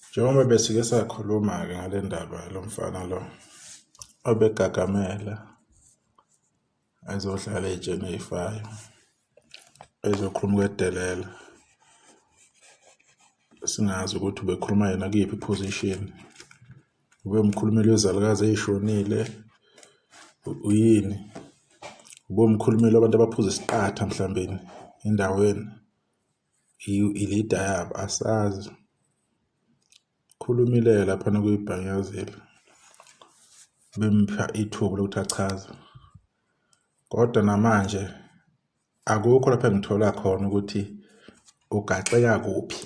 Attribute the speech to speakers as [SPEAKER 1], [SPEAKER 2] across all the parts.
[SPEAKER 1] Njengoba besike sakhuluma-ke ngale ndaba yalo mfana lo obegagamela ezodlala ey'tsheni ey'fayo ezokhuluma ukwedelela singazi ukuthi ubekhuluma yena kuyiphi i-position ube umkhulumeli wezalukazi ey'shonile uyini ube umkhulumeli wabantu abaphuza isiqatha mhlawumbeni endaweni i-leader yabo asazi khulumileyo laphana kuyibhanyazile bempha ithuba lokuthi achaze kodwa namanje akukho lapha engithola khona ukuthi ugaxeka kuphi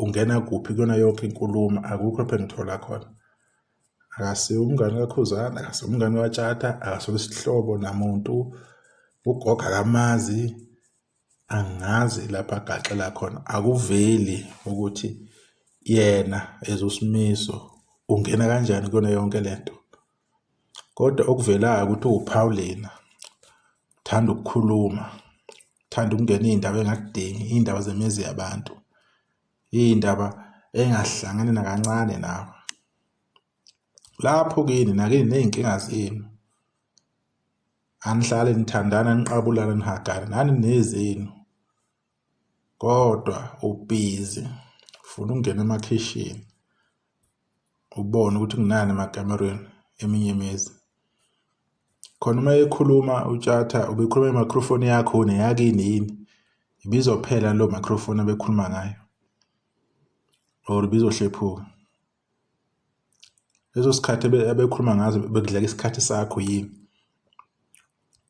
[SPEAKER 1] ungena kuphi kuyona yonke inkulumo akukho lapha engithola khona akasiwo umngane kakhuzana akasiwo umngane watshata akasona isihlobo namuntu ugogo akamazi Angazi lapho agaxela khona akuveli ukuthi yena as uSimiso ungena kanjani kuyona yonke le nto. Kodwa okuvelayo ukuthi uwuphawulina, uthanda ukukhuluma, uthanda ukungena iy'ndaba engakudingi, iy'ndaba zemizi yabantu, iy'ndaba engahlangani nakancane nawe. Lapho kini nakini ney'nkinga zenu. anihlale nithandana niqabulana nihagane nani nezenu kodwa ubhizi ufuna ukungena emakhishini ubone ukuthi kunani emakamerweni eminye imizi khona uma ekhuluma utshatha ubekhuluma imicrophone yakho neyakini yini ibizophela lo microphone abekhuluma ngayo or bizohlephuka Leso sikhathi abekhuluma ngazo bekudleka isikhathi sakho yini?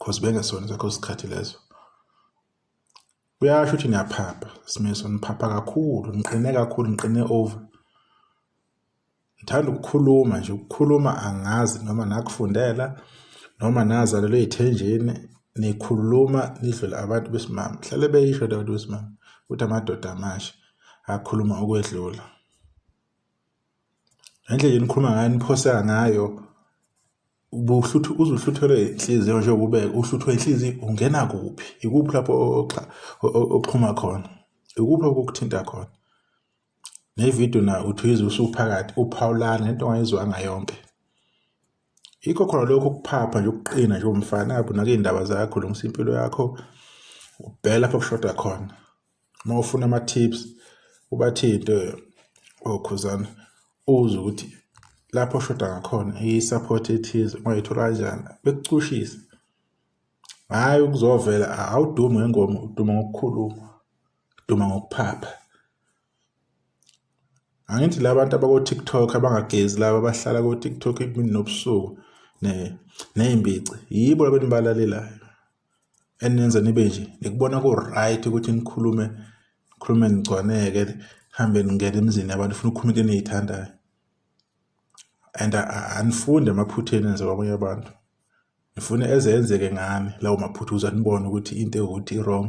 [SPEAKER 1] Cause bengesona esakho isikhathi leso. Kuyasho ukuthi niyaphapha, Simiso, niphapha kakhulu, niqine kakhulu, niqine over. Ngithanda ukukhuluma nje, ukukhuluma angazi noma nakufundela noma nazalelwe ey'thenjini, nikhuluma nidlule abantu besimame. Hlale beyisho leyo nto besimame ukuthi amadoda amasha akhuluma ukwedlula. ngendlela enikhuluma ngayo niphoseka ngayo ubuhluthu uzuhluthelwe inhliziyo nje kube uhluthwe inhliziyo ungena kuphi ikuphi lapho oxhuma khona ikuphi lapho okuthinta khona nevidiyo na uthi uyizwe usuphakathi uphawulana into ongayizwanga yonke yikho khona lokho ukuphapha nje ukuqina nje umfana abunake iy'ndaba zakho lungisa impilo yakho ubhela lapho kushoda khona uma ufuna ama-tips ubathinte okhuzana uze ukuthi lapho oshoda ngakhona iyi-support ethize ungayithola kanjani bekucushise hhayi ukuzovela awudumi ngengoma uduma ngokukhuluma uduma ngokuphapha angithi la bantu abako-tiktok abangagezi laba abahlala ko-tiktok imini nobusuku ney'mbici yibo labantu balalelayo eninenze nibe nje nikubona ku-right ukuthi nikhulume nikhulume nigcwaneke hambe ningena emizini yabantu funa ukukhuluma into eniyithandayo and anifunde emaphutheni enze kwabanye abantu ngifuna eze enzeke ngami lawo maphutha uze anibone ukuthi into ewuthi i-wrong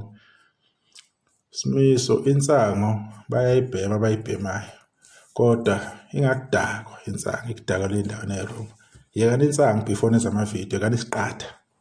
[SPEAKER 1] simiso insango bayayibhema abayibhemayo kodwa ingakudakwa insango ikudakwa le ndawo ne-wrong yekani insango before nenza amavidiyo kanisiqatha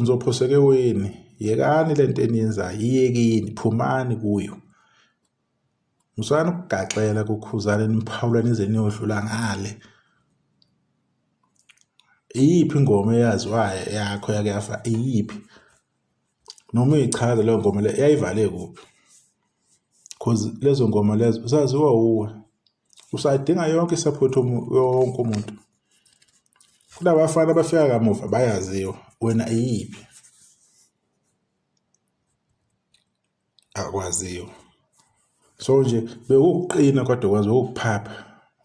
[SPEAKER 1] Ngizophoseka eweni yekani le nto eniyenzayo iyekeni phumani kuyo. Musani ukugaxela kuKhuzani niphawula nize niyodlula ngale. Iyiphi ingoma eyaziwayo yakho yake yafa iyiphi? noma uyichaza leyo ngoma leyo yayivale kuphi cause lezo ngoma lezo usaziwa wuwe usadinga yonke i-support yonke umuntu kunabafana abafika kamuva bayaziwa wena iyiphi akwaziwa so nje bewukuqina kodwa kwazi ukuphapha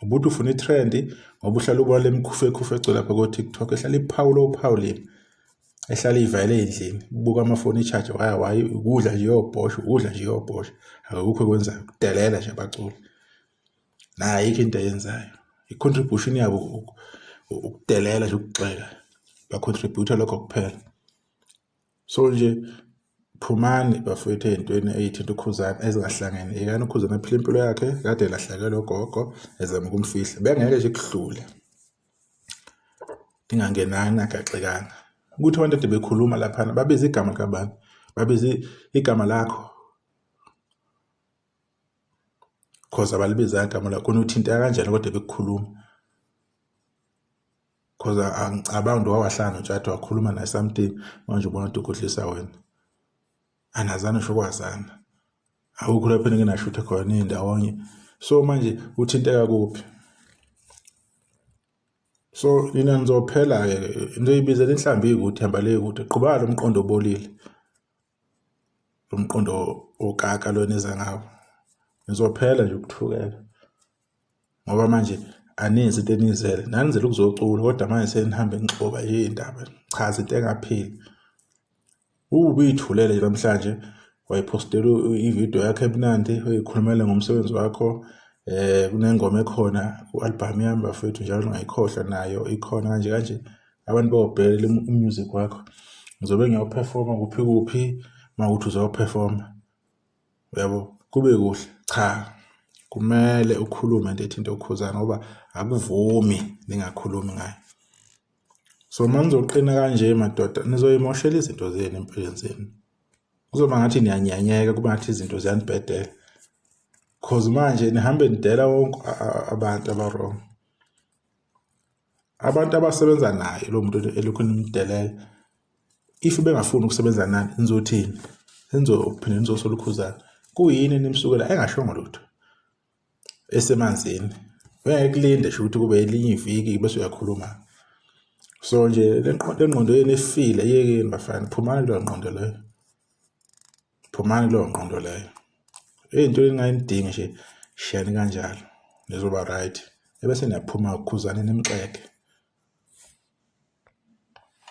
[SPEAKER 1] ubuthi ufuna i-trend ngoba uhlala ubona lemikhufu ekhufu egcwele lapha ko-tiktok ehlala iphawula ophawulile ehlala ivayele endlini buka amafoni i-charge waya wayi ukudla nje yobhosha ukudla nje yobhosha akukho ekwenzayo kudelela nje abaculi naye ayikho into ayenzayo i-contribution yabo ukudelela nje ukugxeka ba-contributor lokho kuphela so nje phumani bafowethu ey'ntweni ey'thinta ukhuzana ezingahlangene yekani ukhuzana aphile impilo yakhe kade lahlakela ogogo ezama ukumfihla bengeke nje kuhlule ndingangenani agaxekanga ukuthi abantu ade bekhuluma laphana babiza igama likabani babiza igama lakho cause abalibizanga igama lakho khona uthinteka kanjani kodwa bekukhuluma Cause angicabangi ukuthi wawahlala noTshatha wakhuluma naye something manje ubona ukuthi ukhohlisa wena. Anazani ngisho kwazana. Awukho lapho enginashuthe khona nindawonye. So manje uthinteka kuphi? So nina nizophela-ke into eyibizela inhlambi ikude ihamba le kude. Qhuba lo mqondo obolile. lo mqondo okaka lo eniza ngawo nizophela nje ukuthukela ngoba manje aninzi into enizele nanizele ukuzocula kodwa manje senihambe nixoba iy'ndaba cha zinto engapheli ubuyithulele namhlanje wayiphostela ividiyo yakho emnandi uyikhulumele ngomsebenzi wakho eh kunengoma ekhona ku-albhamu yami bafethu njalo ngayikhohlwa nayo ikhona kanje kanje abantu bawubhekele umusic wakho ngizobe ngiyawuphefoma kuphi kuphi uma ukuthi uzawuphefoma uyabo kube kuhle cha kumele ukhulume into ethinta ukhuzana ngoba akuvumi ningakhulumi ngayo so uma nizoqina kanje madoda nizoyimoshela izinto zenu empilweni zenu kuzoba ngathi niyanyanyeka kuba ngathi izinto ziyanibhedela cause manje nihambe nidela wonke abantu abarong Abantu abasebenza naye lo muntu elokhu nimdelela if bengafuni ukusebenza nani nizothini nizophinde nizosola ukhuzana kuyini nimsukela engashongo lutho esemanzini ngeke kulinde sho ukuthi kube elinye iviki bese uyakhuluma so nje le nqondo yenu efile yekeni bafana phumani kulo nqondo leyo phumani kuleyo ngqondo leyo into engayidingi nje shiyani kanjalo nizoba right ebese niyaphuma khuzane nimxeke